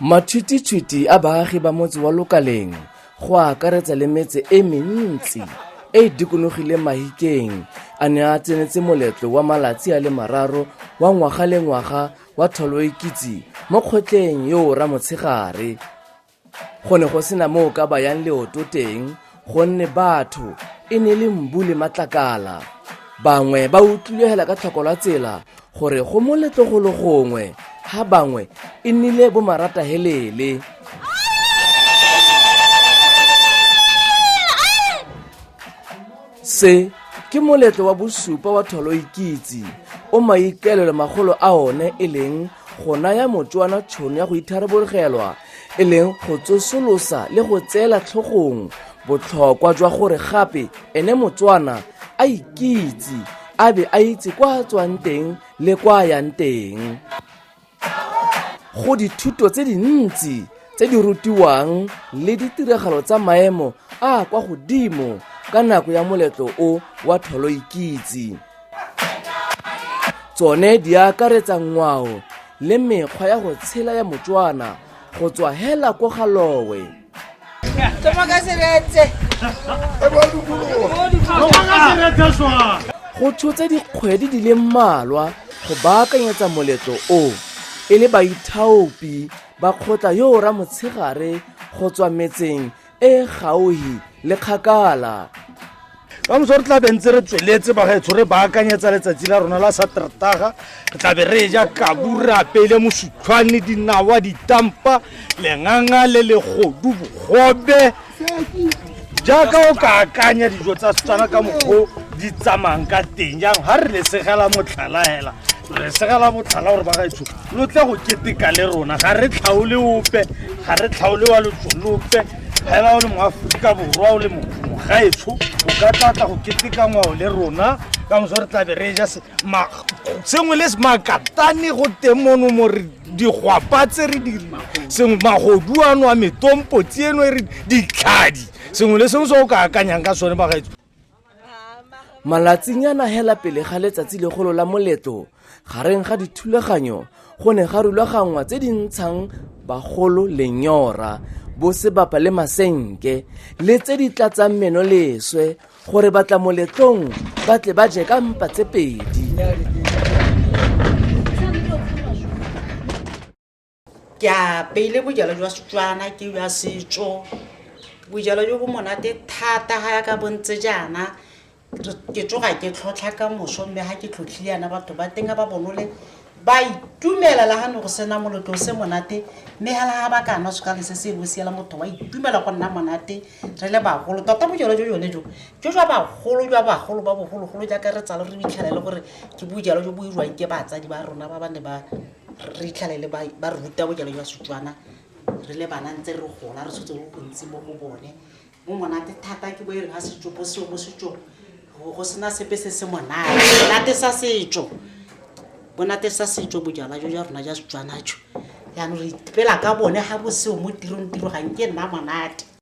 matshwititshwiti a baagi ba motse wa lokaleng go akaretsa le metse e mentsi e e dikonogileng mahikeng a ne a tsenetse moletlo wa malatsi a le mararo wa ngwaga le ngwaga wa tholoikitse mo kgotleng yo o ramotshegare go ne go sena moo ka bayang leoto teng gonne batho e ne le mbu le matlakala bangwe ba utlwilegela ka tlhoko la tsela gore go mo letlogolo gongwe ga bangwe e nnile bomaratahelele se ke moletlo wa bosupa wa tholoikitse o maikaelelo magolo a one e leng go naya motswana tšhono ya go itharabologelwa e leng go tsosolosa le go tseela tlhogong botlhokwa jwa gore gape ene motswana a ikitse a be a itse kwa a tswang teng le kwa a yang teng go dithuto tse dintsi tse di rutiwang le ditiragalo tsa maemo a kwa godimo ka nako ya moletlo o wa tholoikitse tsone di akaretsa ngwao le mekgwa ya go tshela ya motswana go tswa hela ko galowe go tshotse dikgwedi di le mmalwa go baakanyetsa moletlo o e le baithaopi ba kgotla yo o ramotshegare go tswa metseng e gauhi le kgakala ka moso re tlabe ntse re tsweletse bagaetsho re baakanyetsa letsatsi la rona la satertaga re tlabe re ja kaburapeile mosutlhwane dinawa ditampa lenganga le legodu bogobe jaaka o ka akanya dijo tsa setswana ka mokgwa di tsamayang ka teng jang ga re lesegela motlhala fela re segela motlhala gore ba gaetsho lo tle go keteka le rona ga re tlhaole ope ga re tlhaole wa lotsolope fela o le moaforika borwa o le mogaetsho o ka tlatla go keteka ngwao le rona ka moso re tlabe re ja sengwe le makatane go teng mono mo re digwapa tse re di sengwe magodu ano a metompotsi eno e re ditlhadi sengwe le sengwe se o ka akanyang ka sone bagaetso malatsinyana hela pele ga letsatsi legolo la moletlo gareng ga dithulaganyo go ne ga rulaganngwa tse di ntshang bagolo lenyora bosebapa le masenke le tse di tlatsang meno leswe gore batla moletlong ba tle ba je ka mpa tse pedi ke a peile bojalo jwa setswana ke jwa setso bojalo jo bo monate thata ga ya ka bontse jaana ke tsoga ke tlhotlha ka moso mme ga ke tlhotlhile yana batho ba teng ba bonole ba itumela la ga ne go sena molotlo o se monate mme ga laga ba ka nwa sekale se se bo siela motho wa itumela go nna monate re le bagolo tota bojalo jo jone jo jo jwa bagolo jwa bagolo ba bogologolo jaaka re tsalo re bitlhela e le gore ke bojalo jo bo irwang ke batsadi ba rona ba ba ne ba re itlhalele ba re ruta bojalo jwa setswana re le bana ntse re gola re tshotse go bontsi mo go bone mo monate thata ke bo e reng a setso bo seo mo setsong go sena sepe se se monate monate sa setso bonate sa setso bojalwa jo jwa rona jwa setswanajo jaanong re ipela ka bone ga boseo mo tirong tiro ga nke nna monate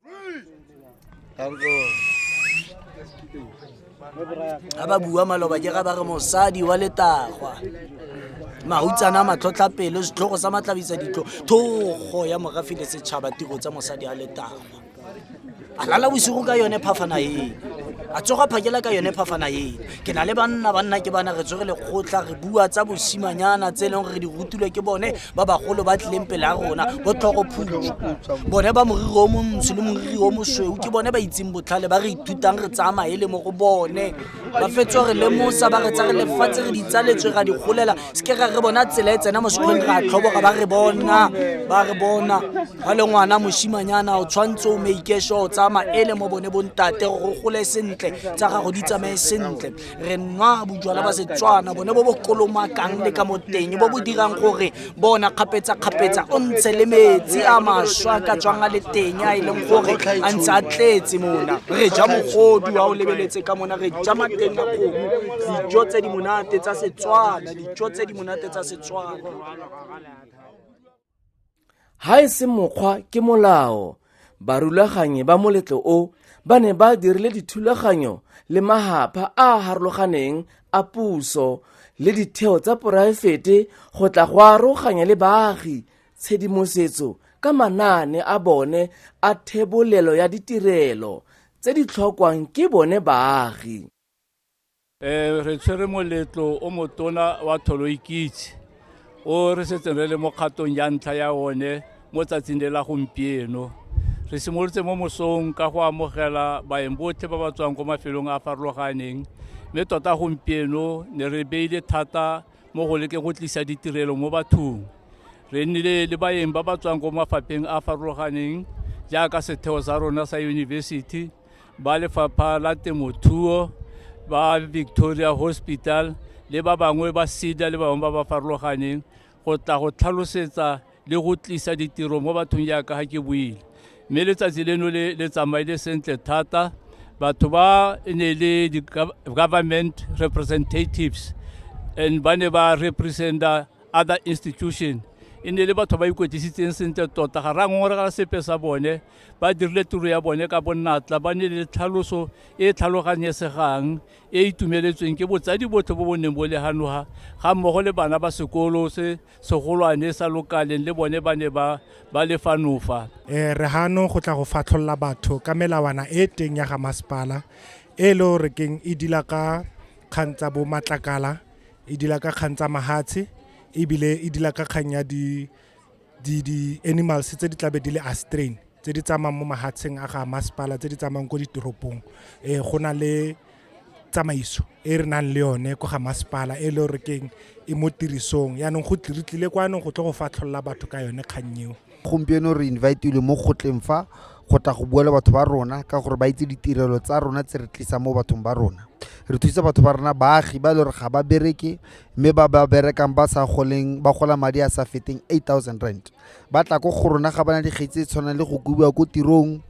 ga ba bua maloba ke ga ba re mosadi wa letagwa mahutsana a matlhotlhapelo setlhogo sa matlabisa ditlo thogo ya morafi le setšhaba tiro tsa mosadi a letagwa a lala bosigo ka yone phafana eno a tsoga phakela ka yone phafana eno ke na le banna banna ke bana re tsore lekgotlha re bua tsa bosimanyana tse e leng gore re di rutilwe ke bone ba bagolo ba tlileng pele ya rona bo tlhogo phutso bone ba moriri o montsho le moriri o mosweu ke bone ba itseng botlhale ba re ithutang re tsaya maele mo go bone ba fetso re lemosa ba re tsa re lefatshe re ditsaletswe ra di golela seke ra re bona tsela e tsena mo sekolong ra tlhoboga ba re bona ba re bona ga le ngwana moshimanyana o tshwanetse o meikesho o tsaya maele mo bone bontate go gole sentle tsa gago di tsamaye sentle re nwa bojwala ba setswana bone bo bo kolomakang le ka moteng bo bo dirang gore bona kgapetsa-kgapetsa o ntshe le metsi a maswa ka tswang a le teng a e leng gore a ntse a tletse mona re ja mogodu a o lebeletse ka mona re ja mateng a kgomo dijo tse di monate tsa setswana dijo tse di monate tsa setswana Ga e se mokgwa ke molao. Barulaganyi ba moletlo o ba ne ba dirile dithulaganyo le magapha a a harologaneng a puso le ditheo tsa poraefete go tla go aroganya le baagi tshedimosetso ka manaane a bone a thebolelo ya ditirelo tse di tlhokwang ke bone baagi. Re tshwere moletlo o motona wa tholoikitse o re setseng re le mo kgatong ya ntlha ya one mo tsatsing le la gompieno re simolotse mo mosong ka go amogela baeng botlhe ba ba tswang ko mafelong a a farologaneng mme tota gompieno ne re beile thata mo go leke go tlisa ditirelo mo bathong re nnile le baeng ba ba tswang ko mafapheng a a farologaneng jaaka setheo sa rona sa yunibesithi ba lefapha la temothuo ba victoria hospital le ba bangwe ba sida le bangwe ba ba farologaneng go tla go tlhalosetsa le go tlisa ditiro mo bathong jaaka ga ke buile mme letsatsi leno le le tsamaile sentle thata batho ba e ne le di-government representatives and ba ne ba representa other institution e ne le batho ba ikwetlisitseng sentle tota ga ra ngongorega sepe sa bone ba dirile tiro ya bone ka bonatla ba ne le tlhaloso e e tlhaloganyesegang e e itumeletsweng ke botsadi botlhe bo bo neng bo leganoga ga mmogo le bana ba sekolo se segolwane sa lokaleng le bone ba ne ba ba le fanofa um re gano go tla go fatlholola batho ka melawana e teng ya ga masepala e e le gore keng e dila ka kgang tsa bo matlakala e dila ka kgang tsa mahatshe ebile e dila ka kgang ya di di-animals tse di tlabe di le astrain tse di tsamayang mo mahatsheng a ga masepala tse di tsamayang ko ditoropong um go na le tsamaiso e re nang le yone ko ga masepala e le gore keng e mo tirisong yaanong go re tlile kwa anong go tle go fatlholola batho ka yone kgang eo gompieno re invitile mo gotleng fa go tla go bua le batho ba rona ka gore ba itse ditirelo tsa rona tse re tlisang mo bathong ba rona re thusa batho ba rona baagi ba e le gore ga ba bereke mme ba ba berekang ba sa goleng ba gola madi a sa feteng eight thousand rand ba tla ko go rona ga bana dikgetsi tse tshwanang le go kubiwa ko tirong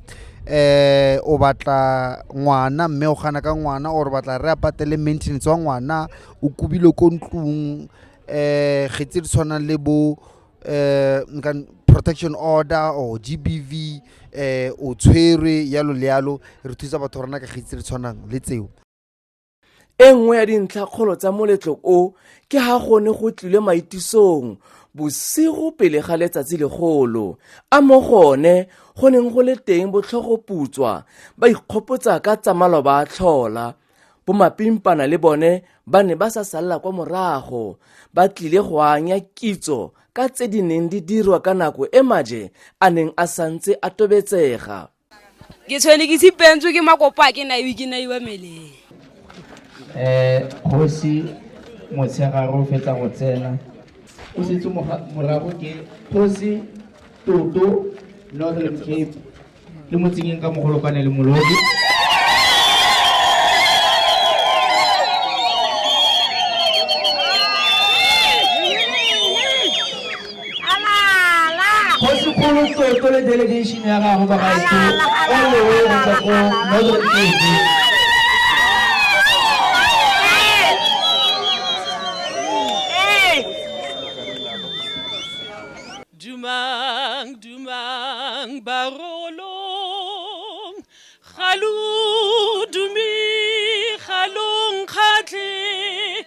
eh o batla ngwana mme o gana ka ngwana or batla re a patele maintenance wa ngwana o kubile ko ntlong eh kgetsi di tshwanang le bo eh nka- protection order or gbv eh o tshwerwe yalo le yalo re thusa batho ba rona ka kgetsi di tshwanang le tseo e nngwe ya dintlhakgolo tsa moletlo o ke ha go ne go tlile maitisong bosigo pele ga letsatsi legolo a mo gone go neng go le teng botlhogoputswa ba ikgopotsa ka tsa maloba a tlhola bomapimpana le bone ba ne ba sa salela kwa morago ba tlile go anya kitso ka tse di neng di dirwa ka nako e maje a neng a santse a tobetsega ke tshwene ke tshipentswe ke makopa a ke naiwe ke naiwa meleng um kgosi motshegare o fetsa go tsena o setse morago ke kgosi toto northern cape le motsengeng ka mogolokwane le molodi Kgosi Kgolo Soto le delegation ya gago ba gaetsho all the way go tswa ko Northern Cape. Dumang, dumang, barolong, galu, dumi, galong, kgatlhe.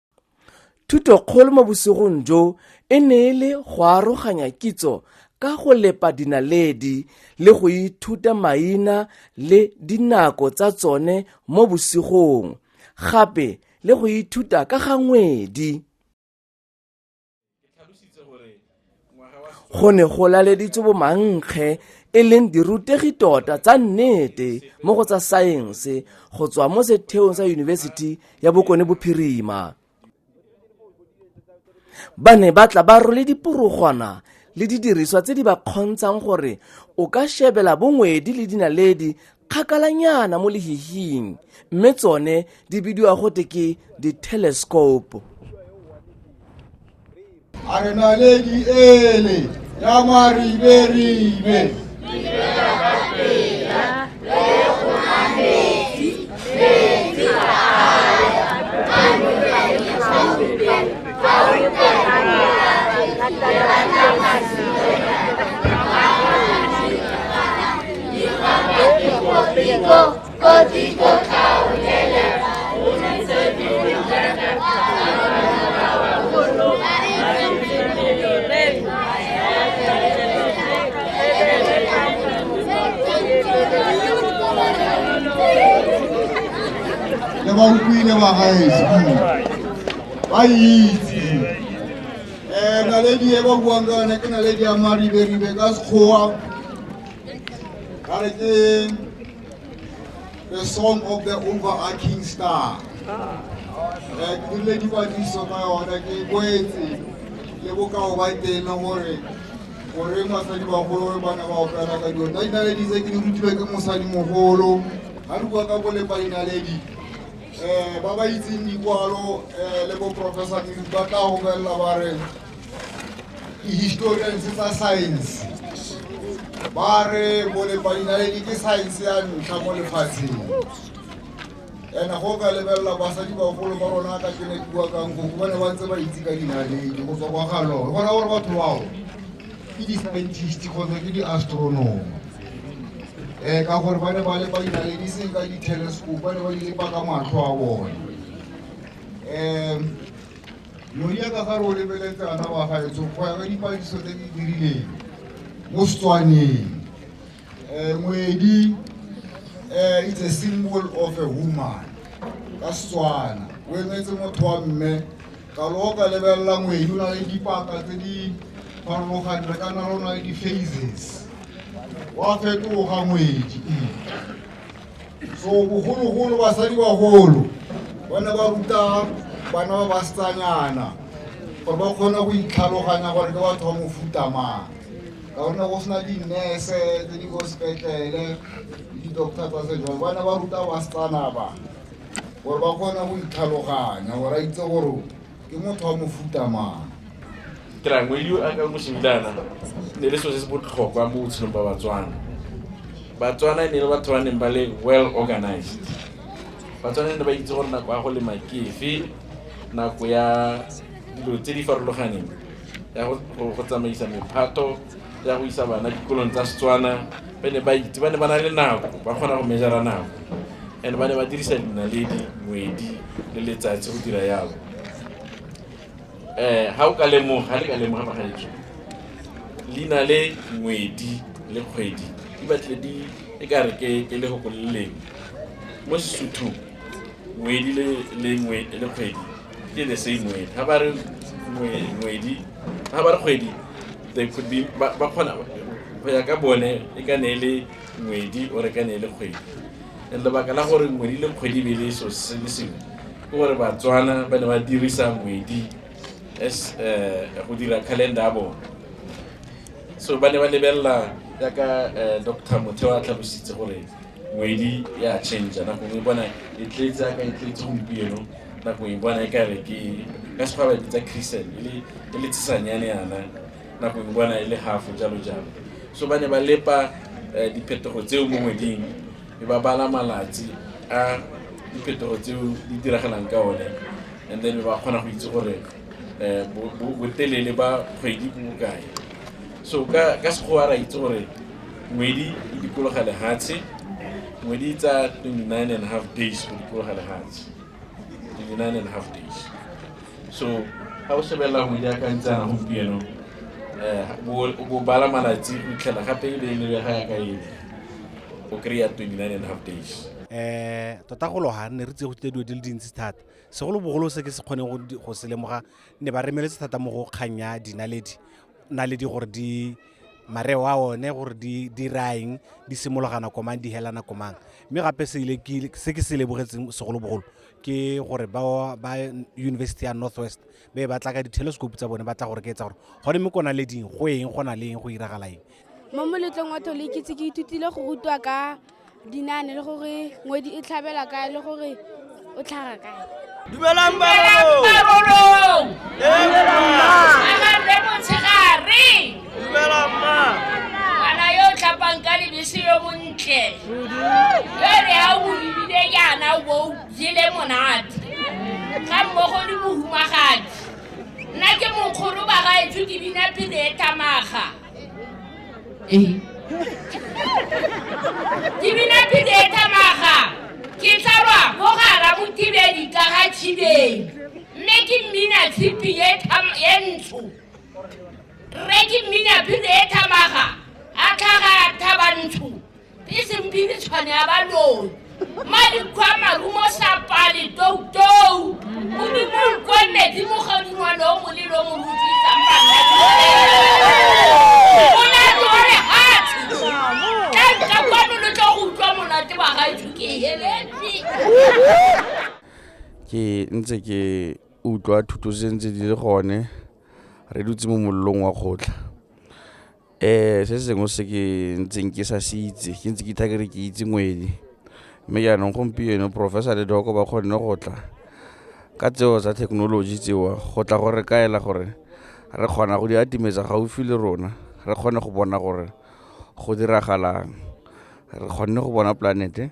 thuto kgolo mo bosigong jo e ne e le go aroganya kitso ka go lepa dinaledi le go ithuta maina le dinako tsa tsone mo bosigong gape le go ithuta ka ga ngwedi go ne go laleditswe bomankge e leng dirutegi tota tsa nnete mo go tsa saense go tswa mo setheong sa yunibesithi ya bokone bophirima ba ne ba tla ba role diporogwana le didiriswa tse di ba kgontshang gore o ka shebela bongwedi le dinaledi kgakalanyana mo lehihing mme tsone di bidiwa gote ke di-telescope a re naledi ele ya mariberibe le ba utlwile ba gaetso ba itse um naledi e ba buang ka yone ke naledi ya mariberibe ka sekgowa Ka re ke the song of the overarching star. Re dirile dipatlisiso ka yone ke boetse le bokao ba teng gore gore basadi bagolo ba ne ba opela ka dilo painaledi tse ke di rutilwe ke mosadi mogolo ga re bua ka bole painaledi um ba ba itseng dikwalo um le bo professor medu ba tla go bolelela ba re ke historians tsa science ba re molepadinaledi ke science ya ntlha mo lefatsheng and go ka lebelela basadi bagolo ba rona ka ke ne ke bua kang koko ba ne ba ntse ba itse ka dinaledi go tswa kwa galore bona gore batho bao ke di-scientist kgotsa ke di-astronomer um ka gore ba ne ba lepa dinaledi seng ka di-telescope ba ne ba di lepa ka matlho a bone um Modiaka ga re o lebeletse ana wa gaetsho go ya ka dipadiso tse di dirileng mo Setswaneng eh, ngwedi eh, it's a symbol of a woman ka Setswana o emetse motho wa mme ka lo ka lebelela ngwedi o na le dipaka tse di farologaneng re ka na le o na le di-phases wa fetoga ngwedi so bogologolo basadi bagolo ba ne ba ruta bana ba basetsanyana gore ba kgone go itlhaloganya gore ke batho ba mofuta mang ka gonne go sena dinese tse di ko sepetlele le di-doctor tsa sejalo ba ne ba ruta basetsana ba gore ba kgone go itlhaloganya gore a itse gore ke motho wa mofuta mang trangwe yo a ka mosimilana ne le selo se se botlhokwa mo botshelong ba batswana batswana ne le batho ba neng ba le well organized batswana ne ba itse gore nako ya go lema ke efe nako ya dilo tse di farologaneng ya go tsamaisa mephato ya go isa bana dikolong tsa setswana ba ne ba itse ba ne ba na le nako ba kgona go mejara nako and ba ne ba dirisa dinaledi moedi le letsatsi go dira yalo um ga o ka lemoga ga le ka lemoga magaetso leina le ngwedi le kgwedi di batlile di e ka re ke ke le goko le leng mo sesuthong ngwedi le le ngwe- le kgwedi ke the same word ga ba re ngwe- ngwedi ga ba re kgwedi they could be ba ba kgona go ya ka bone e ka ne e le ngwedi o reka ne le kgwedi and lebaka la gore ngwedi le kgwedi be le so se le sengwe ke gore batswana ba ne ba dirisa ngwedi as eh, go dira calendar ya bone so ba ne ba lebelela jaaka eh, dr motheo a tlhalositse gore ngwedi ya change nako e bona e tletse aka e tletse gompieno nako e bona e kare ke ka sekgwa ba e bitsa christian e le- e le tshesanyane yana nako e bona e le hafo jalo jalo so ba ne ba lepa eh, diphetogo tseo mo ngweding e ba bala malatsi a diphetogo tseo di diragalang ka one and then ba kgona go itse gore eh, bo- bo- botelele ba kgwedi bo bokae so ka ka sekgowa ra itse gore ngwedi e dikologa lehatshe ngwedi e tsa 29 and a half days go dikologa lehatshe 29 and a half days so ga o shebelela go iakantshana gompieno um bo bala malatsi o itlhela gape e be e lebe ga ya ka ene o kry-a twenty nine and half days um tota go loga ne re tse go tlile dilo di le dintsi thata segolobogolo se ke se kgoneng go se lemoga ne ba remeletse thata mo go kgang ya dinaledi naledi gore di mareo a one gore di diraeng di simologana komang di helana komang mme gape se ke se lebogetseng segolobogolo ke gore ba ba university ya northwest be ba tla ka di-telescope tsa bone ba tla gore ke etsa gore gone mme kona le ding go eng go na le eng go iragala eng mo moletlong wa thole ke tse ke ithutile go rutwa ka dinane le gore ngwedi e tlhabela kae le gore o tlhaga kae dumelang barolong ngwana yo o tlhapang ka lebese yo montle yo re a o lebile yana o jele monate ga mmogo le mohumagadi nna ke mokgolo ba gaetsho ke bina pele e tamaga ee ke bina pele e tamaga ke tlalwa mo gara motibedi ka ga tshibeng mme ke mmina tshipi e ntsho Rre ke mminaphiri e thamaga a tlhaga thabantsho e semphiri tshwane ya baloi madikgwa marumo sapale toutou modimo nkwe metsi mogadingwane o molelo o moruti tsamaaonaore hatsi ka nka kwano lo tla go utlwa monate wa gaetso ke heletse ke ntse ke utlwa thuto se ntse di le gone re dutse mo mollong wa kgotlha. Se sengwe se ke ntseng ke sa se itse ke ntse ke itaya ke re ke itse ngwele, mme jaanong gompieno Professor le Doc ba kgonne go tla ka tseo tsa thekenoloji tseo go tla go re kaela gore re kgona go di atimetsa gaufi le rona, re kgone go bona gore go diragalang. Re kgonne go bona planet-e,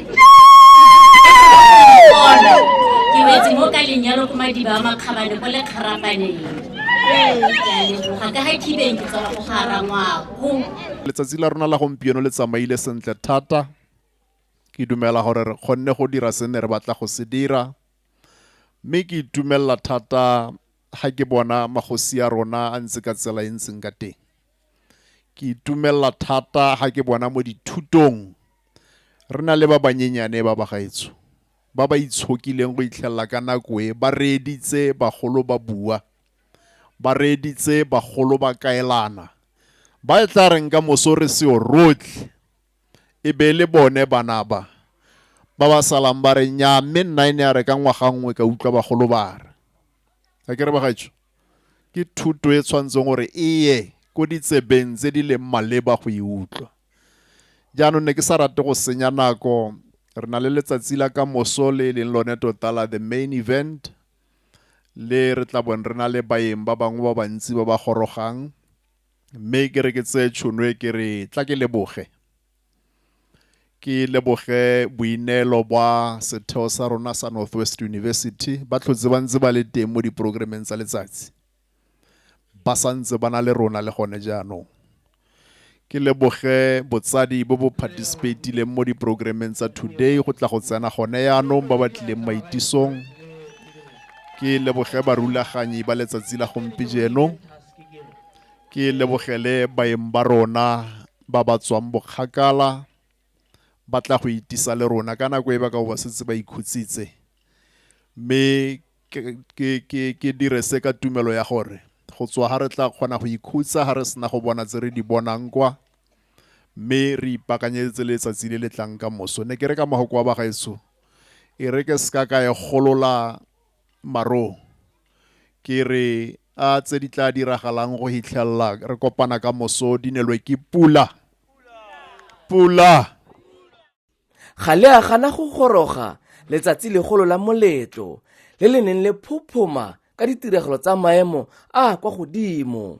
ke wetse mo ka lenyalo ko madiba a makgabane ko lekgarapaneng ga ka ga khibeng ke tswa go gara ngwako letsatsi la rona la gompieno le tsamaile sentle thata ke dumela gore re kgonne go dira se ne re batla go se dira mme ke itumelela thata ga ke bona magosi a rona a ntse ka tsela e ntseng ka teng Ke itumelela thata ga ke bona mo dithutong re na le ba banyenyane ba bagaetsho ba ba itshokileng go itlhelela ka nako e ba reeditse bagolo ba bua, ba reeditse bagolo ba kaelana, ba e tla reng ka moso re seo rotlhe e be le bone bana ba ba ba salang ba re nnyaa mme nna e ne ya re ka ngwaga nngwe ka utlwa bagolo ba re. A ke re bagaetsho? Ke thuto e tshwanetseng gore e ye ko ditsebeng tse di leng maleba go e utlwa. Jaanong ne ke sa rate go senya nako, re na le letsatsi la ka moso le e leng lone tota la the main event le re tla bong re na le baeng ba bangwe ba bantsi ba ba gorogang mme ke re ke tseye tšhono e ke re tla ke leboge Ke leboge boineelo bwa setheo sa rona sa North West University, ba tlhotse ba ntse ba le teng mo diporogrameng tsa letsatsi, ba sa ntse ba na le rona le gone jaanong. Ke leboge botsadi bo bo participatileng mo diporogrameng tsa today go tla go tsena gone yaanong ba ba tlileng maitisong. Ke leboge barulaganyi ba letsatsi la gompieno, ke lebogele baeng ba rona ba ba tswang bokgakala ba tla go itisa le rona ka nako e ba ka ba setse ba ikhutsitse mme ke dire se ka tumelo ya gore go tswa ga re tla kgona go ikhutsa ga re sena go bona tse re di bonang kwa mme re ipakanyetse letsatsi le le tlang ka moso ne ke re ka mogoko wa bagaetsho e re ke seka ka e golola Maroo, ke re a tse di tla diragalang go hitlhelela re kopana ka moso di nelwe ke pula. Pula! Ga le a gana go goroga letsatsi legolo la moletlo le le neng le phophoma ka ditiragalo tsa maemo a a kwa godimo.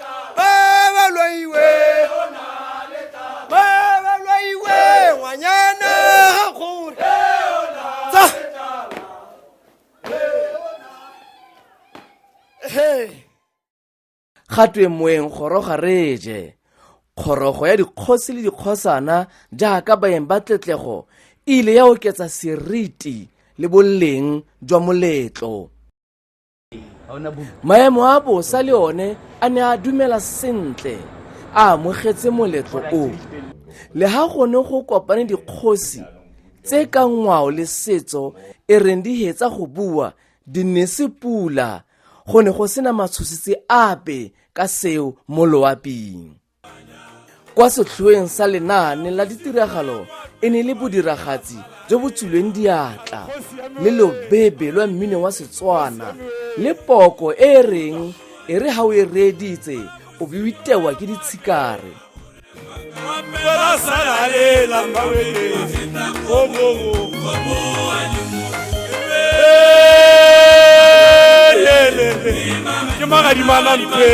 ga twe moeng goroga re je kgorogo ya dikgosi le dikgosana jaaka baeng ba tletlego e ile ya oketsa seriti le boleng jwa moletlo maemo a bosa le one a ne a dumela sentle a amogetse moletlo o le ha gone go kopane dikgosi tse ka ngwao le setso e reng di hetsa go bua di ne se pula go ne go sena matshositse ape ka seo mo loaping kwa setlhoeng sa lenaane la ditiragalo e ne le bodiragatsi jo bo tswilweng diatla le lobebe lwa mmino wa setswana le poko e e reng e re ga o e reeditse o be o itewa ke ditshikare ke magadimana mpe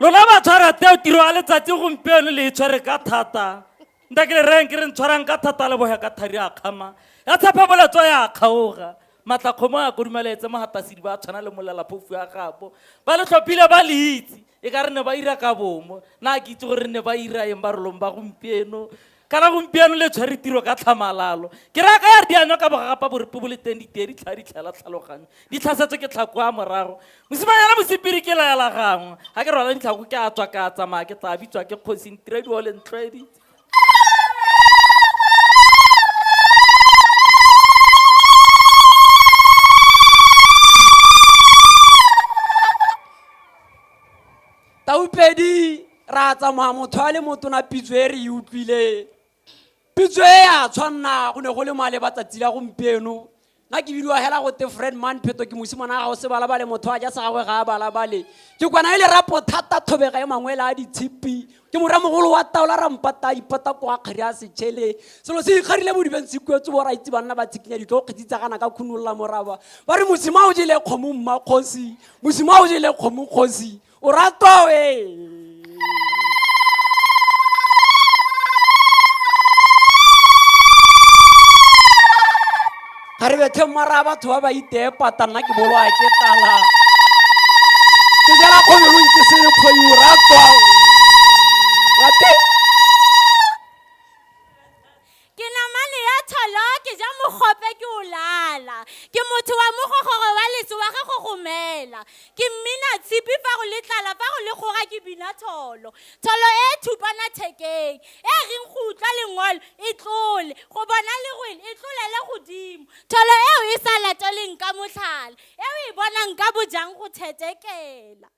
lona ba tshwara teo tiro ya letsatsi gompieno le e tshwere ka thata nta ke le reng ke re ntshwarang ka thata le boya ka thari a kgama ya tshepa boletso ya kgaoga matlakgomo a kodumalaetse mogatasedi ba tshwana le molelaphofu ya gabo ba le tlhophile ba le itse e ka re ne ba ira ka bomo na ke itse gore ne ba ira eng barolong ba gompieno kana gompieno le tshwere tiro ka tlhamalalo ke raya ka ya re dianywa ka bogagapa borepe bo le teng ditee di tlha di tlhela tlhaloganyo di tlhasetswe ke tlhako a morago mosimanyana mosepiri ke laela gangwe ga ke rwala ditlhako ke a tswa ka tsamaya ke tla bitswa ke kgosing tirediwa le ntlhoeditse taupedi ra tsamaya motho a le motona pitso e re e utlwileng pitso e a tshwanna go ne go le maleba tsatsi la gompieno nna ke bidiwa hela gote fred man pheto ke mosimana ga gago se balabale motho a ja sa gagwe ga a balabale ke kwana e le rapo thata thobega e mangwe la a ditshipi ke moramogolo wa taola rampata ipata kwa kgari a setšhele selo se ikgarile modibeng se kuetse bo raitse banna ba tshikinya ditlo kgetsi tsa gana ka khunolola moraba ba re mosima o jele kgomo mmakgosi mosima o jele kgomo kgosi O ratwa we. ga re bethe mara batho ba ba iteepata nna ke boloa ke tala ke jela kgobelong ke se kgoyu ratwa rate ke namane ya tsholo ke ja mogope ke o lala ke motho wa mogogoro wa letso wa ge go gomela ke mmina tshipi fa go le tlala fa go le kgora ke bina tsholo tsholo e e thupana thekeng e reng go utlwa lengolo e tlole go bona lerwele e tlolele godimo tsholo eo e sa lateleng ka motlhala eo e bonang ka bojang go thetekela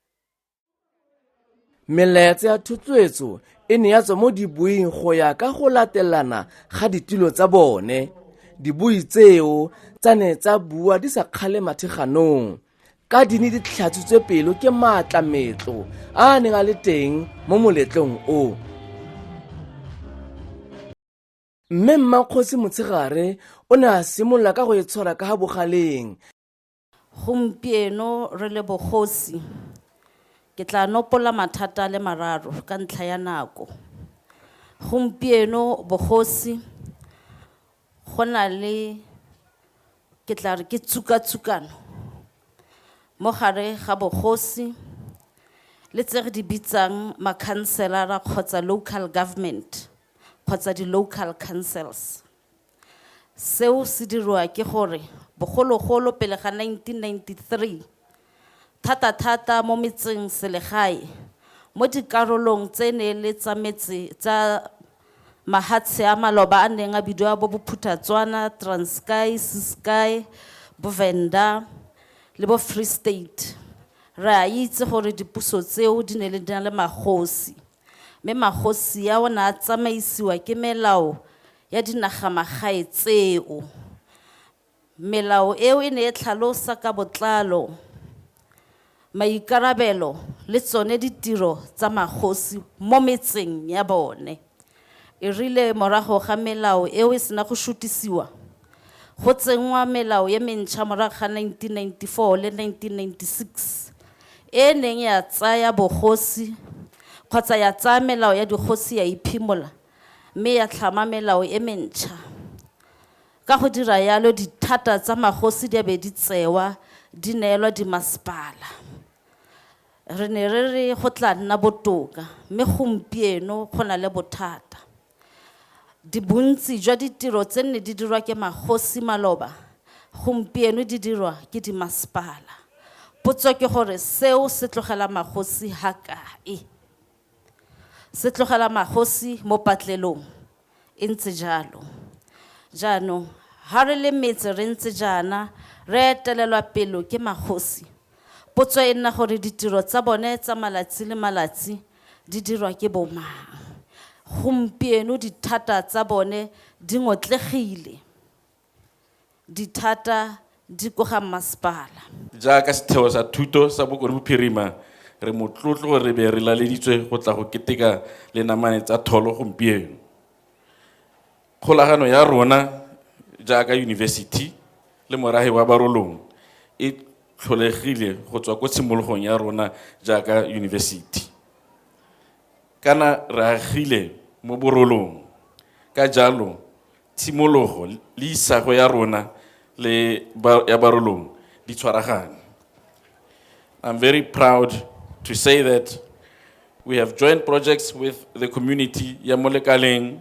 melaetsa ya thotloetso e ne ya tswa mo dibuing go ya ka go latelana ga ditilo tsa bone dibui tseo tsa ne tsa bua di sa kgale matheganong ka di ne di tlhatsitswe pelo ke maatla metlo a a neng a le teng mo moletlong o mme mmakgosi motshegare o ne a simolola ka go e tshwara ka ga bogaleng Gompieno re le bogosi, ke tla nopola mathata le mararo ka ntlha ya nako. Gompieno bogosi go na le ke tla re ke tsukatsukano mo gare ga bogosi le tse re di bitsang makhanselara kgotsa local government kgotsa di-local councils. Seo se dirwa ke gore bogologolo pele ga 1993, thata-thata mo metseng selegae, mo dikarolong tse ne e le tsa metse tsa mahatshe a maloba a neng a bidiwa bo Bophuthatswana, Transkei, Ciskei, bo Venda le bo Free State, re a itse gore dipuso tseo di ne di na le magosi. mme magosi ao ne a tsamaisiwa ke melao ya dinagamagae tseo. Melao eo e ne e tlhalosa ka botlalo maikarabelo le tsone ditiro tsa magosi mo metseng ya bone. E rile morago ga melao eo e sena go šutisiwa, Go tsenngwa melao e mentšha morago ga 1994 le 1996 e e neng ya tsaya bogosi kgotsa ya tsaya melao ya dikgosi ya e phimola mme ya tlhama melao e mentšha. Ka go dira yalo dithata tsa magosi di a be di tsewa di neelwa dimasepala. Re ne re re go tla nna botoka mme gompieno go na le bothata. Di bontsi jwa ditiro tse nne di dirwa ke magosi maloba gompieno di dirwa ke dimasepala. Potso ke gore seo se tlogela magosi ha kae? Se tlogela magosi mo patlelong e ntse jalo. Jaanong ha re le metse re ntse jaana re etelelwa pelo ke magosi. Potso e nna gore ditiro tsa bone tsa malatsi le malatsi Di dirwa ke bomang? Gompieno dithata tsa bone di ngotlegile. Dithata di ko ga mmasepala. Jaaka setheo sa thuto sa Bokone Bophirima, re motlotlo gore re be re laleditswe go tla go keteka le namane tsa tholo gompieno. Kgolagano ya rona jaaka yunibesithi le morahi wa Barolong e tlholegile go tswa ko tshimologong ya rona jaaka yunibesithi. Kana re agile mo Borolong, ka jalo tshimologo le isago ya rona le ya Barolong di tshwaragane. I'm very proud to say that we have joint projects with the community ya mo lekaleng,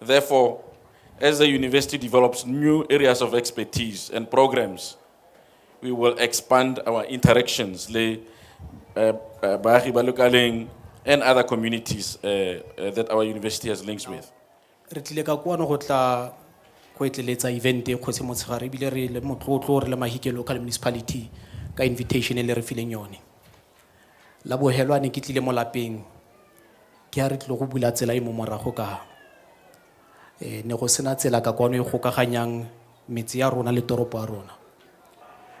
Therefore, as the university develops new areas of expertise and programs, we will expand our interactions with uh, uh, Bahi Balukaling and other communities uh, uh, that our university has links with. re tlile ka kwano go tla go etleletsa event e kgotsi motshegare ebile re le motlotlo re le mahikelo ka le municipality ka invitation e le re fileng yone La bohelwa ne ke tlile mo lapeng ke a re tlile go bula tsela e mo morago ka e ne go sena tsela ka kwano e gokaganyang metse ya rona le toropo ya rona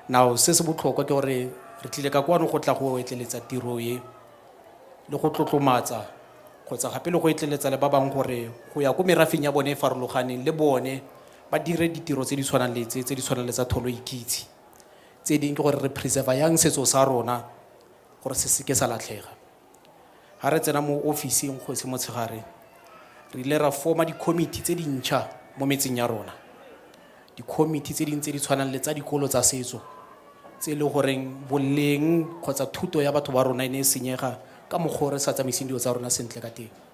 now se se botlhokwa ke gore re tlile ka kwano go tla go etleletsa tiro e le go tlotlomatsa kgotsa gape le go etleletsa le ba bangwe gore go ya ko merafeng ya bone e farologaneng le bone ba dire ditiro tse di tshwanang le tse tse di tshwanang le tsa tholo ikitse Tse ding ke gore re preserve-a yang setso sa rona gore se seke sa latlhega. Ha re tsena mo ofising Kgosi Motshegare, re ile ra form-a di-committee tse dintšha mo metseng ya rona. Di-committee tse ding tse di tshwanang le tsa dikolo tsa setso, tse e le goreng boleng kgotsa thuto ya batho ba rona e ne e senyega ka mokgwa o re sa tsamaiseng dilo tsa rona sentle ka teng.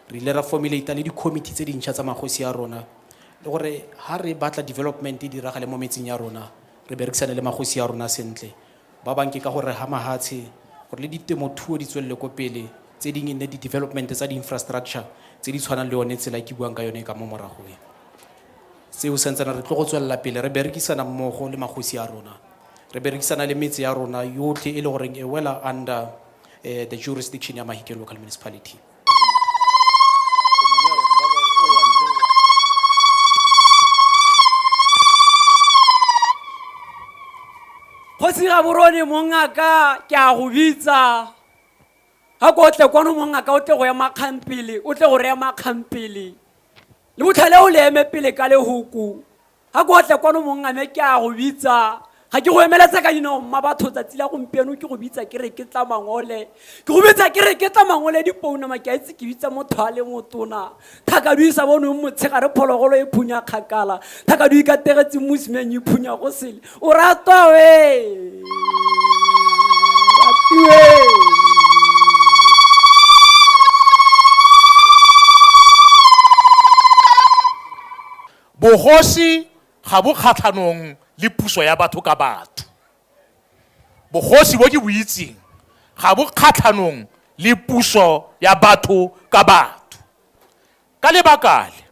Re ile ra formulate-a le di-committee tse dintšha tsa magosi a rona, le gore ha re batla development e diragale mo metseng ya rona, re berekisane le magosi a rona sentle. Ba bang ke ka go reha mahatshe, gore le ditemothuo di tswelele ko pele, tse ding e nne di-development tsa di-infrastructure tse di tshwanang le yone tsela e ke buang ka yone e ka mo morago e. Seo santsana re tlo go tswelela pele re berekisana mmogo le magosi a rona, re berekisana le metse ya rona yotlhe e le goreng e wela under the jurisdiction ya Mahikeng Local Municipality. Kgosi Gaborone mongaka ke a go bitsa ga ko tle kwano mongaka o tle go ema kgampele o tle go re ema kgampele le botlhale o le eme pele ka lehuku ga ko tle kwano mong a me ke a go bitsa ga ke go emeletse ka dinao mma batho tsatsi la gompieno ke go bitsa ke re ke tla mangole ke go bitsa ke re ke tla mangole dipounama ke a itse ke bitsa motho a le motona thakadui sa bonong motshegare phologolo e phunya kgakala thakadui ka tegetseng mosimeng e phunya go sele o ratwa we ratiwe Bogosi ga bo kgatlhanong le puso ya batho ka batho. Bogosi bo ke bo itseng ga bo kgatlhanong le puso ya batho ka batho. Ka lebaka le,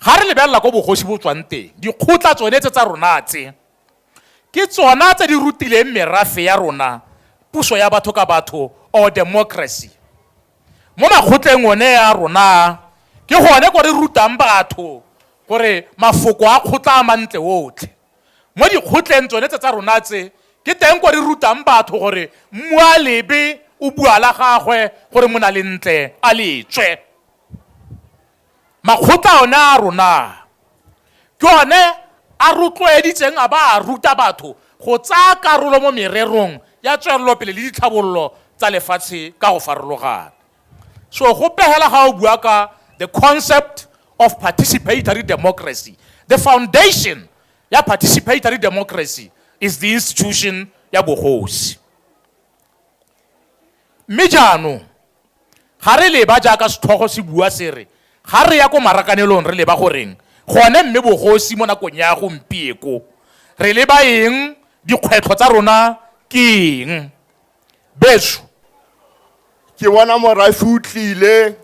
ga re lebelela ko bogosi bo tswang teng, dikgotla tsone tse tsa rona tse, Ke tsona tse di rutileng merafe ya rona puso ya batho ka batho or democracy. Mo makgotleng one a rona a, ke gone ko re rutang batho gore mafoko a kgotla a mantle otlhe. Mo dikgotleng tsone tse tsa rona tse, ke teng ko re rutang batho gore mmualebe o bua la gagwe gore monalentle a le tswe. Makgotla one a rona ke one a rotloeditseng a ba a ruta batho go tsaya karolo mo mererong ya tswelelopele le ditlhabololo tsa lefatshe ka go farologana. So go pegela ga o bua ka the concept of participatory democracy, the foundation ya participatory democracy is the institution ya bogosi. Mme jaanong Ga re leba jaaka setlhogo se bua se re, ga re ya ko marakanelong re leba goreng gone mme bogosi mo nakong ya gompieko. Re leba eng, dikgwetlho tsa rona ke eng. Beso. Ke bona morafe o tlile,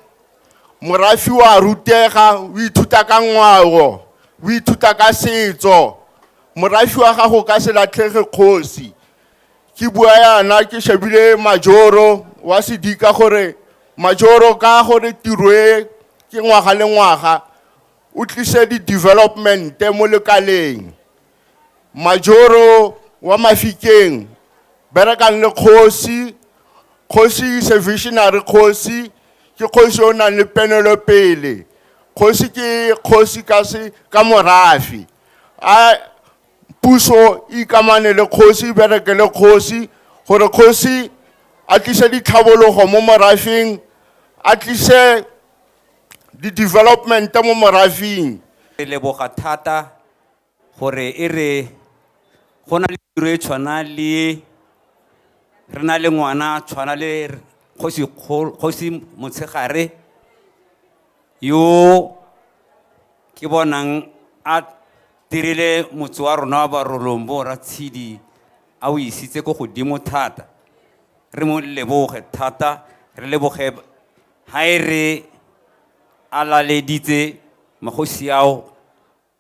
morafe o a rutega, o ithuta ka ngwao, o ithuta ka setso. Morafe wa gago o ka se latlhege kgosi. ke bua yana ke shebile majoro wa sedika gore majoro ka gore tiro e ke ngwaga le ngwaga o tlise di-developmente mo lekaleng majoro wa mafikeng berekang le kgosi kgosi is a visionary kgosi ke kgosi o nang le penelopele kgosi ke kgosi ka morafi a puso e ikamane le kgosi e bereke le kgosi gore kgosi a tlise ditlhabologo mo morafeng a tlise di-development mo morafeng re leboga thata gore e re go na le tiro e tshwana le re na le ngwana tshwana le kgosi Kgol- kgosi motshegare yo ke bonang a dirile motse wa rona wa barolong bo ratshidi a o isitse ko godimo thata re mo leboge thata re leboge ha e re a laleditse magosi ao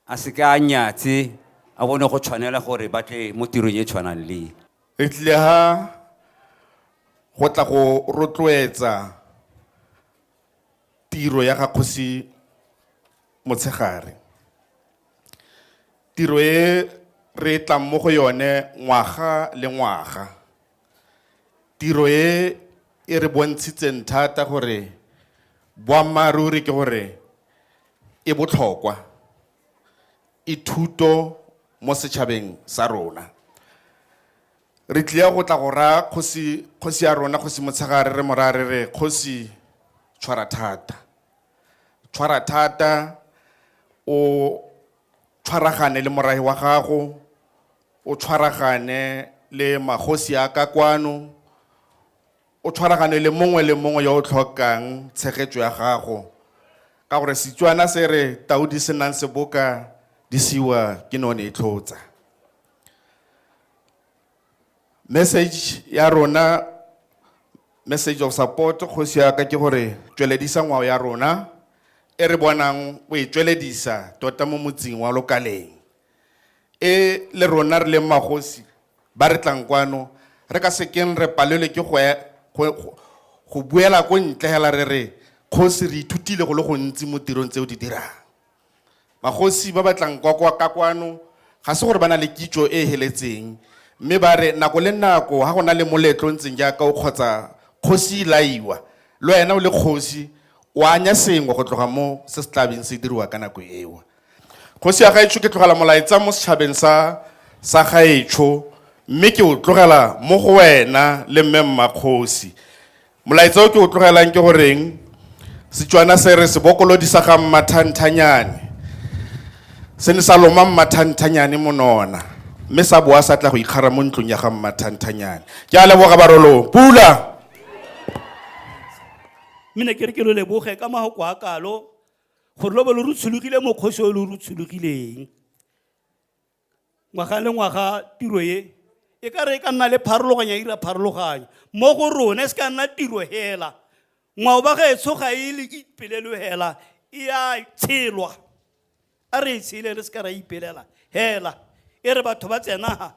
a se ka a nyatse a bone go tshwanela gore ba tle mo tirong e tshwanang le re tlile ha go tla go rotloetsa Tiro ya ga Kgosi Motshegare. Tiro e re e tlang mo go yone ngwaga le ngwaga. Tiro e e re bontshitseng thata gore boammaaruri ke gore e botlhokwa, e thuto mo setšhabeng sa rona. Re tlia go tla go raya kgosi, kgosi ya rona, Kgosi Motshegare, re mo raya re re, Kgosi, tshwara thata. Tshwara thata, o tshwaragane le morahi wa gago, o tshwaragane le magosi a ka kwano, o tshwaragane le mongwe le mongwe yo o tlhokang tshegetso ya gago. Ka gore Setswana se re, tau di se nang seboka di siwa ke none e tlhotsa. message ya rona message of support kgosi ya ka ke gore tsweledisa ngwao ya rona e re bonang o e tsweledisa tota mo motseng wa lokaleng e le rona re leng magosi ba re tlang kwano re ka sekeng re palelwe ke go e- go- go- go buela ko ntle hela re re kgosi re ithutile go le gontsi mo tirong tse o di dirang Magosi ba ba tlang kwa kwa ka kwano ga se gore ba na le kitso e e heletseng mme ba re nako le nako ga go na le moletlo o ntseng jaaka o kgotsa kgosi e laiwa, le wena o le kgosi o anya sengwe go tloga mo se se tla beng se diriwa ka nako eo. Kgosi ya gaetsho ke tlogela molaetsa mo setšhabeng sa sa gaetsho mme ke o tlogela mo go wena le mme Mmakgosi. Molaetsa o ke o tlogelang ke goreng Setswana se re sebokolodi sa ga mmathanthanyane se ne sa loma mmathanthanyane monona mme sa boa sa tla go ikgara mo ntlong ya ga mmathanthanyane ke a leboga barolong pula mme ne ke re ke lo leboge ka mago kwa kalo gore lo be lo rutshologile mokgosi o lo rutshologileng ngwaga le ngwaga tiro e e ka re e ka nna le pharologanya ira pharologanya mo go rone se ka nna tiro hela ngwao ba ga e tshoga e le ipelelo hela e a tshelwa a re e tshele re se ka ra ipelela hela e re batho ba tsenaga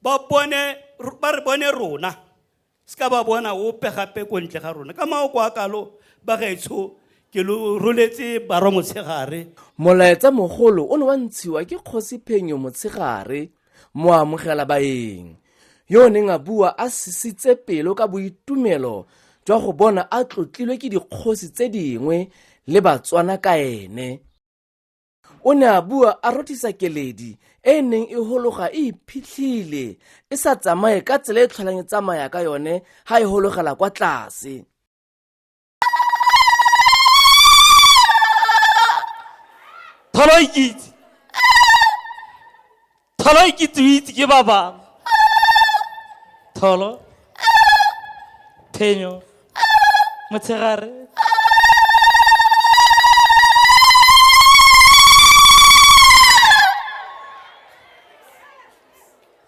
ba bone ba re bone rona se ka ba bona ope gape ko ntle ga rona ka maoko a kalo bagaetsho ke lo roletse barwa motshegare molaetsa mogolo o ne wa ntshiwa ke kgosi phenyo motshegare mo amogela baeng yo o neng a bua a sisitse pelo ka boitumelo jwa go bona a tlotlilwe ke dikgosi tse dingwe le batswana ka ene o ne a bua a rothisa keledi e e neng e hologa e iphitlhile e sa tsamaye ka tsela e tlholang e tsamaya ka yone ha e hologela kwa tlase tholo ikitse Tholo e kitsuitse ke ba bangwe. Tholo. Phenyo. Motshegare.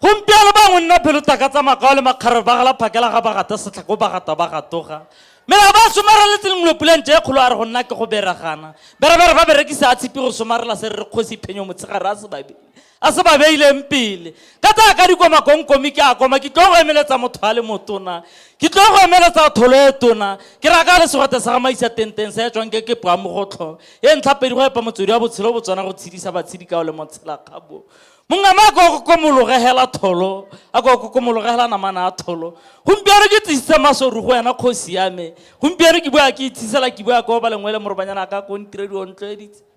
gompieno bangwe nna phelo taka tsa makao le makgarare ba gala phakela ga bagata setlhako bagata ba gatoga mme ga ba somareletse lengwe puleng je kgolo a re go nna ke go beragana berebere ba berekisa a tshipi go somarela se re re kgosi phenyo motshegare a se babedi a se ba beileng pele ka tsaya ka dikoma kongkomi ke a koma ke tlo go emeletsa motho a le motona ke tlo go emeletsa tholo e tona ke raka le segote sa gamaisa tenteng sa e tswang ke ke poa mogotlho e ntlha pedi go epa motswedi wa botshelo bo tswana go tshedisa batshedi kao le motshela kgabo mongama a ko kokomologegela tholo a ko kokomologegela namana a tholo gompieno ke tsisitse masoru go wena kgosi yame gompieno ke bua ke itshisela ke bua ko ba lengwe le morobanyana a ka ko ntiredi o ntlhoeditse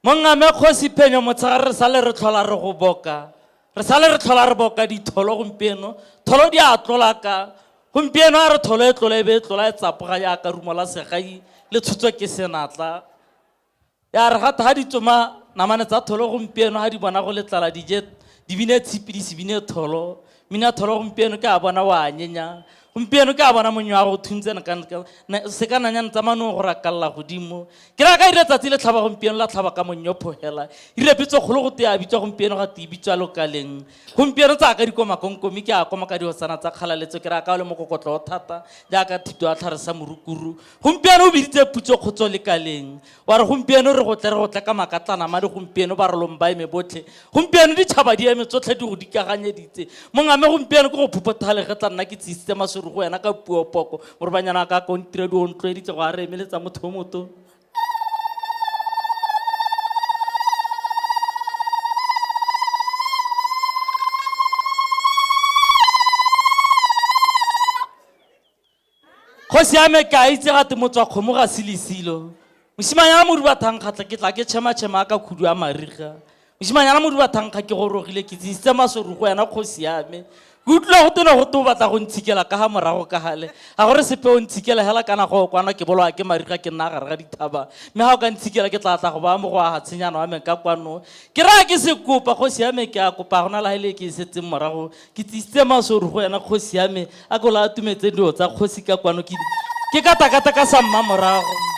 Mongame Kgosi Phenyo motshegare re sale re tlhola re go boka. Re sale re tlhola re boka ditholo gompieno. Tholo di a tlola ka. Gompieno a re tholo e tlola e be e tlola e tsapoga jaaka rumo la segai le tshutswe ke senatla. Ya re gata ga di tsoma namane tsa tholo gompieno ga di bona go letlala dije di bine tshipi di se bine tholo. mina tholo gompieno ke a bona wa nyenya gompieno ke a bona monyo wa go thuntse se ka nanya ntsamanong go rakalela godimo ke ra ka ire tsatsi le tlhaba gompieno la tlhaba ka monyo phogela ire pitso kgolo go tea bitswa gompieno ga te bitswa lokaleng gompieno tsa ka dikomakonkomi ke a koma ka dihosana tsa kgalaletso ke ra ka o le mokokotlo o thata jaaka thito ya tlhare sa morukuru gompieno o biditse putso kgotso lekaleng wa re gompieno re gotle re gotle ka makatlanama le gompieno ba rolong ba eme botlhe gompieno ditšhaba di eme tsotlhe di go dikaganyeditse mongame gompieno ke go phuphothale ge tla nna ke tsisitse masuru go wena ka puo poko morobanyana ka kontira di ontloeditse go a re emeletsa motho o moto kgosi ya me ke a itse gate motswa kgomo ga se lesilo mosimanyana moduba thankgatlha ke tla ke tšhematšhema a ka khudu a mariga mosimanyana moduba thankga ke gorogile ke tsisitse masorugo yana kgosi ya me ke utlwile go tene go te o batla go ntshikela ka ga morago ka gale ga gore sepe o ntshikela hela kana go kwana ke bolwa ke mariga ke nna gare ga dithaba mme ga o ka ntshikela ke tla tla go baya mo go aga tshenyana wa me ka kwano ke raya ke se kopa kgosi ya me ke a kopa gona la hele ke e setseng morago Ke tsisitse masoru go wena kgosi ya me, a ko la atumetse dilo tsa kgosi ka kwano ke ke ka takata ka sa mmamorago.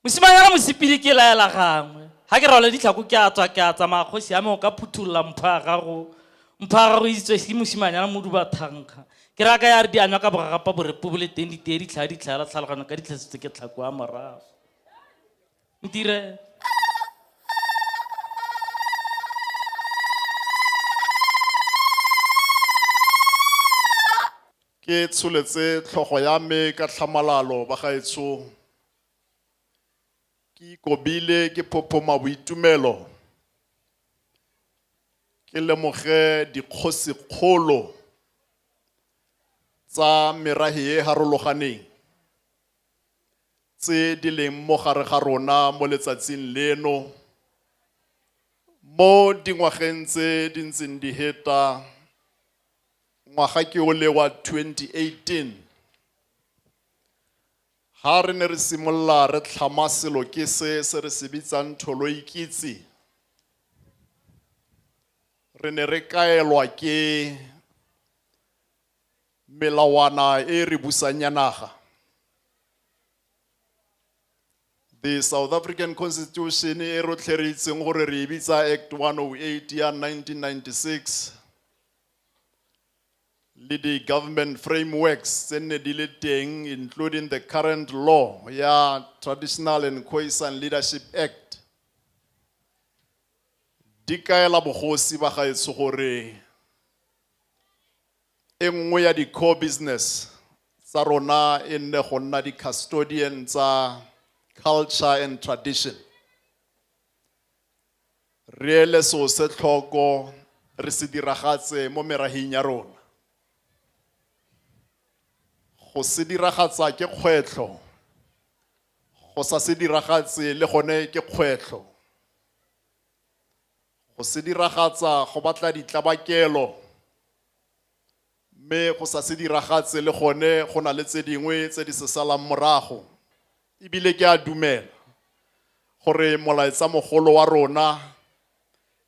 Mosimanyana mosipili ke laela gangwe. Ha ke rwala ditlhako ke a tswa ke a tsamaya kgosi ya me o ka phuthulola mpho ya gago. Mpho ya gago e itswe ke mosimanyana moduba thanka. Ke raya ka ya re di anywa ka bogagapa borepo bo le teng di teye ditlhaa ditlhaa la tlhalogano ka ditlhasitse ke tlhako a morago ntire ke tsholetse tlhogo ya me ka tlhamalalo ba gaetsong Ke ikobile ke phophoma boitumelo ke lemoge dikgosikgolo tsa merahe e harologaneng tse di leng mo gare ga rona mo letsatsing leno mo dingwageng tse di ntseng di heta ngwaga ke ole wa 2018 Ga re ne re simolola re tlhama selo ke se se re se bitsang Tholoikitse, re ne re kaelwa ke melawana e re busang ya naga. The South African Constitution e rotlhe re itseng gore re e bitsa Act 108 ya 1996 le di government frameworks tse nne di le teng including the current law ya Traditional and Khoisan Leadership Act di kaela bogosi ba gaetsho gore e nngwe ya di-core business tsa rona e nne go nna di-custodian tsa culture and tradition Re ele seo se tlhoko, re se diragatse mo merahing ya rona. Go se diragatsa ke kgwetlho, go sa se diragatse le gone ke kgwetlho. Go se diragatsa go batla ditlabakelo, Mme go sa se diragatse le gone go na le tse dingwe tse di se salang morago. E bile ke a dumela gore molaetsamogolo wa rona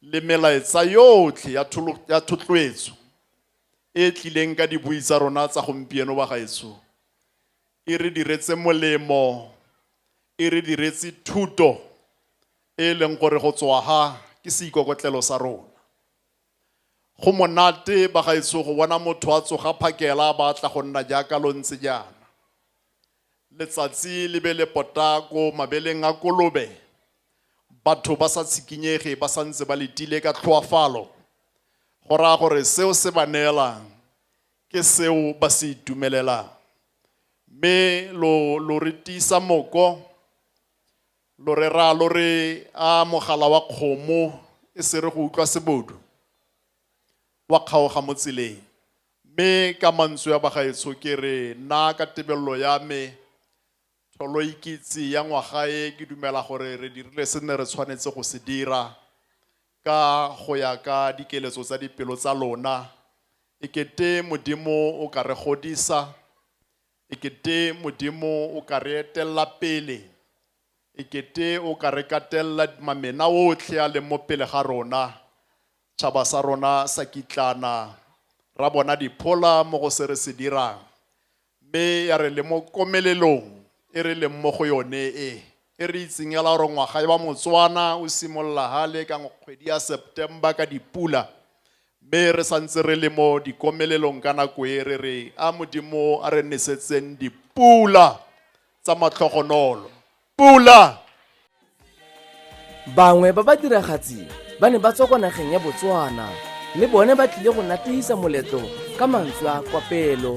le melaetsa yotlhe ya thotloetso e e tlileng ka dibui tsa rona tsa gompieno, bagaetsho, e re diretse molemo, e re diretse thuto e e leng gore go tswa ha ke seikokotlelo sa rona. Go monate ba gaetsho go bona motho a tsoga phakela a batla go nna jaaka lo ntse jaana. Letsatsi le be le pota ko mabeleng a kolobe, batho ba sa tshikinyege ba sa ntse ba letile ka tlhoafalo, go raya gore seo se ba neelang ke seo ba se itumelelang. Mme lo, lo re tiisa moko, Lo re raya lo re, A mogala wa kgomo e se re go utlwa sebodu? Wa kgaoga mo tseleng. Mme ka mantswe a bagaetsho ke re, nna ka tebelelo ya me, Tholoikitse ya ngwaga e, ke dumela gore re dirile se ne re tshwanetse go se dira, ka go ya ka dikeletso tsa dipelo tsa lona. Ekete Modimo o ka re godisa, e kete modimo o ka re etelela pele e kete o ka re katelela mamena otlhe a leng mo pele ga rona tšhaba sa rona sa kitlana ra bona diphola mo go se re se dirang mme ya re le mo komelelong e re leng mo go yone e e re itseng ela gore ngwaga wa motswana o simolola gale ka kgwedi ya september ka dipula Mme re sa ntse re le mo dikomelelong ka nako e, re re, A Modimo, a re nesetseng dipula tsa matlhogonolo. Pula! Bangwe ba badiragatsi ba ne ba tswa kwa nageng ya Botswana le bone ba tlile go natehisa moletlo ka mantswe a kopelo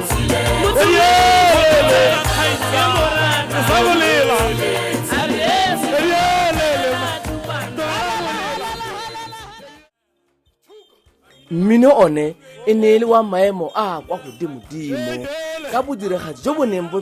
mmino one e ne e le wa maemo a kwa godimodimo ka bodiragatsi jo bo neng bo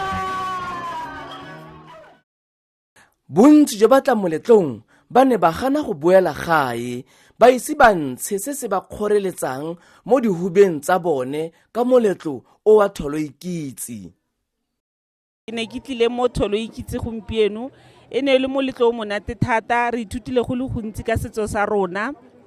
bontsi jwa batla moletlong ba ne ba gana go boela gae ba ise ba ntshe se se ba kgoreletsang mo dihubeng tsa bone ka moletlo o wa tholoikitse ke ne ke tlile mo tholoikitse gompieno e ne e le moletlo o monate thata re ithutile go le gontsi ka setso sa rona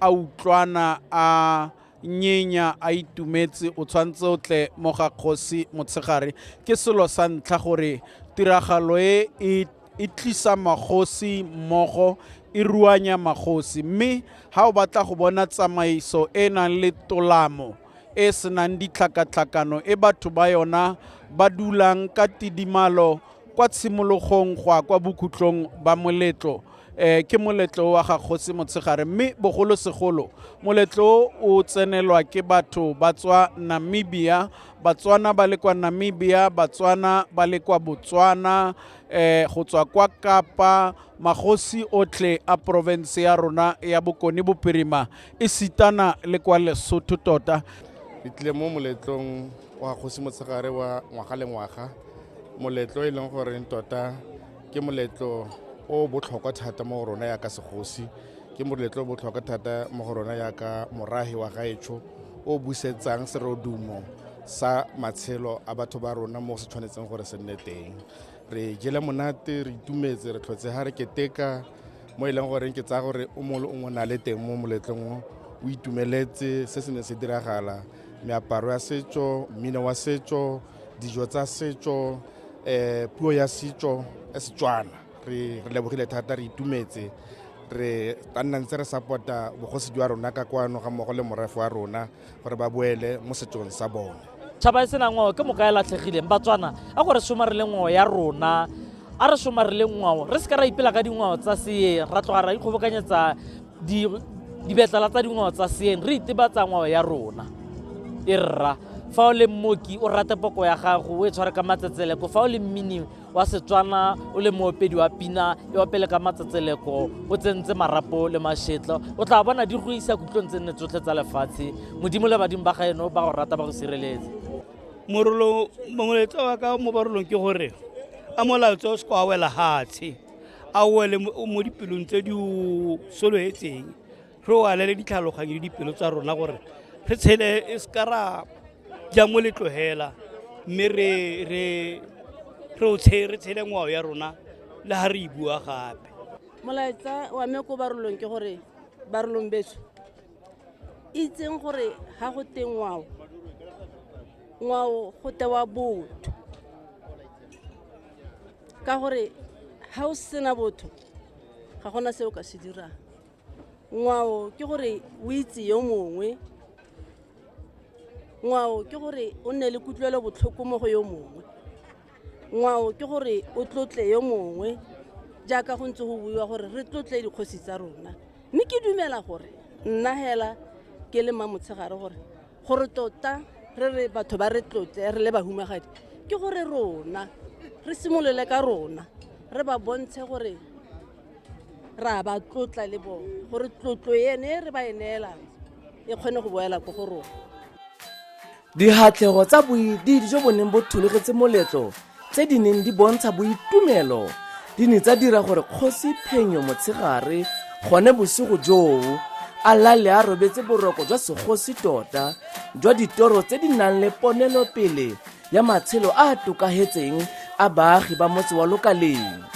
a utlwana a nyenya a itumetse o tshwanetse o tle mo ga kgosi motshegare ke selo sa ntlha gore tiragalo e e e tlisa magosi mmogo e ruanya magosi mme ga o batla go bona tsamaiso e e nang le tolamo e senang ditlhakatlhakano e batho ba yona ba dulang ka tidimalo kwa tshimologong go ya kwa bokhutlong ba moletlo eh ke moletlo wa ga kgosi motshegare mme bogolosegolo moletlo o tsenelwa ke batho ba tswa namibia batswana ba le kwa namibia batswana ba le kwa botswana eh go tswa kwa kapa magosi otlhe a porofense ya rona ya bokone boperima e sitana le kwa lesotho tota ke tlile mo moletlong wa kgosi motshegare wa ngwaga le ngwaga moletlo e leng goreng tota ke moletlo o botlhokwa thata mo go rona yaka segosi ke moletlo o botlhokwa thata mo go rona yaka morahi wa gaetsho o busetsang serodumo sa matshelo a batho ba rona mo se tshwanetseng gore se nne teng re jele monate re itumetse re tlhotse ga re keteka mo e leng goreng ke tsaya gore o mongwe le o mongwe na le teng mo moletlong o o itumeletse se se ne se diragala meaparo ya setso mmino wa setso dijo tsa setso um puo ya setso e setswana re lebogile thata re itumetse re ka nna ntse re support-a bogosi jwa rona ka kwano ga mmogo le morafe wa rona gore ba boele mo setsong sa bone tšhaba e sena ngwao ke moka e latlhegileng batswana a gore somarile ngwao ya rona a re somarile ngwao re se ka ra ipela ka dingwao tsa seyeng ra tloga ra ikgobokanyetsa dibetlala tsa dingwao tsa seeng re itebatsa ngwao ya rona e rra fa o le mmoki o rate poko ya gago o e tshware ka matsetseleko fa o le mmini wa setswana o le moopedi wa pina e opele ka matsetseleko o tsentse marapo le mashetlo o tla bona di go isa kutlong tse nne tsotlhe tsa lefatshe modimo le badimo ba gaeno ba go rata ba go sireletse morolo mongwe letsa wa ka mo barolong ke gore a molaotse o se kwa wela hatshe a wele mo dipelong tse di o solofetseng re o alele ditlhaloganyo le dipelo tsa rona gore re tshele e seka ra ja mo letlogela mme re o re tshele ngwao ya rona le ga re e bua gape molaetsa wa me ko barolong ke gore barolong beso itseng gore ga go teng ngwao ngwao go tewa botho ka gore ga o sena botho ga gona se o ka se dirang ngwao ke gore o itse yo mongwe ngwao ke gore o nne le kutlwelo botlhoko mo go yo mongwe ngwao ke gore o tlotle yo mongwe jaaka go ntse go buiwa gore re tlotle dikgosi tsa rona mme ke dumela gore nna hela ke le mmamotshegare gore gore tota re re batho ba re tlotle re le bahumagadi ke gore rona re simolole ka rona re ba bontshe gore ra ba tlotla le bone gore tlotlo ene re ba e neelang e kgone go boela ko go rona Dihatlego tsa boididi jo bo neng bo thologetse moletlo tse di neng di bontsha boitumelo di ne tsa dira gore kgosi phenyo motshegare gone bosigo joo a lale a robetse boroko jwa segosi tota jwa ditoro tse di nang le ponelopele ya matshelo a a tokagetseng a baagi ba motse wa lokaleng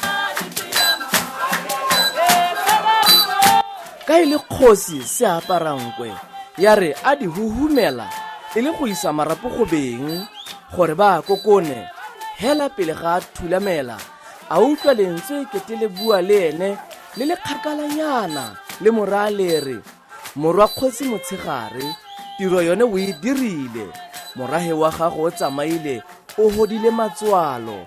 Ka e le kgosi Seaparankwe ya re a di huhumela e le go isa marapo go beng gore ba a kokone hela pele ga a thulamela a utlwa lentswe kete le bua le ene le le kgakalanyana le moraa lere morwa kgosi motshegare tiro yone o e dirile morahe wa gago o tsamaile o hodile matswalo